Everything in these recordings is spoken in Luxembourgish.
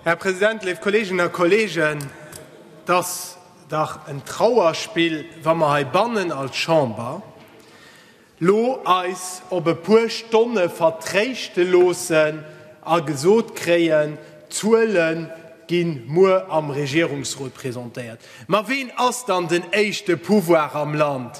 Här President, léif Kolleeginnen a Kolleegen, et ass dach en Trauerspill, wa mer heibannen als Chamber elo eis op e puer Stonne vertréischte loossen a gesot kréien, d'Zuele gi muer am Regierungsrot presentéiert. Ma ween ass dann den éischte Pouvoir am Land?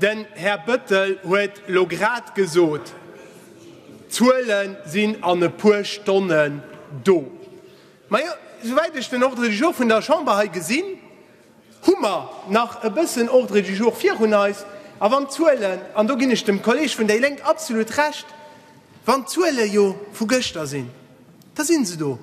Den Här Bëttel huet elo grad gesot, d'Zuele sinn an e puer Stonne do. Majo, souwäit ech den Ordre du jour vun der Chamber hei gesinn, hu mer nach e bëssen Ordre du jour virun eis. A wann d'Zuelen, an do ginn ech dem Kolleeg vun déi Lénk absolut Recht, wann d'Zuele jo vu gëschter sinn, da si se do.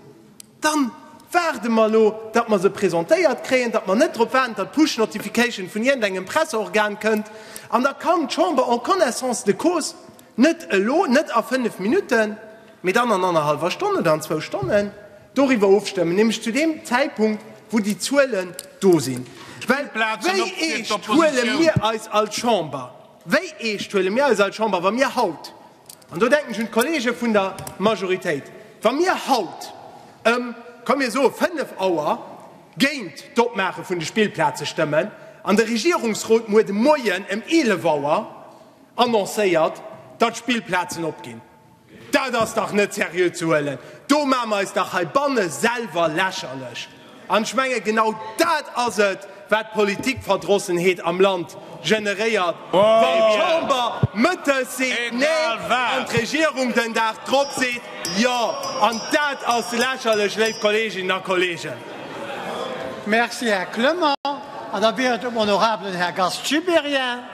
Dann waarde mer elo, datt mer se presentéiert kréien, datt mer net drop waarden, datt d'Push Notification vun iergendengem Presseorgan kënnt, an da kann d'Chamber en connaissance de cause, net elo, net a fënnf Minutten, mee dann an annerhallwer Stonn oder an zwou Stonnen doriwwer ofstëmmen, nämlech zu deem Zäitpunkt, wou déi Zuelen do sinn. Well wéi eescht huele mir eis als Chamber, wéi eescht huele mir eis als Chamber, wa mir haut An do denken ech un d'Kollege vun der Majoritéit, Wa mir haut ëm, komm mir soe fënnef Auer géint d'Opmaache vun de Spillplaze stëmmen an de Regierungsrot muer de Moien ëm eelef Auer annoncéiert, datt d'Spillplazen opginn, dat ass dach net seriö ze huelen. Do maache mer eis dach heibanne selwer lächerlech. An ech menge genau dat ass et, wat Politikverdrossenheet am Land generéiert, wann d'Chamber mëttes seet Nee an d'Regierung den Dag drop seet Jo. An dat ass lächerlech, léif Kolleeginnen a Kolleegen. Merci, Här Clement. An da wier et um honorabelen Här Gast Gibéryen.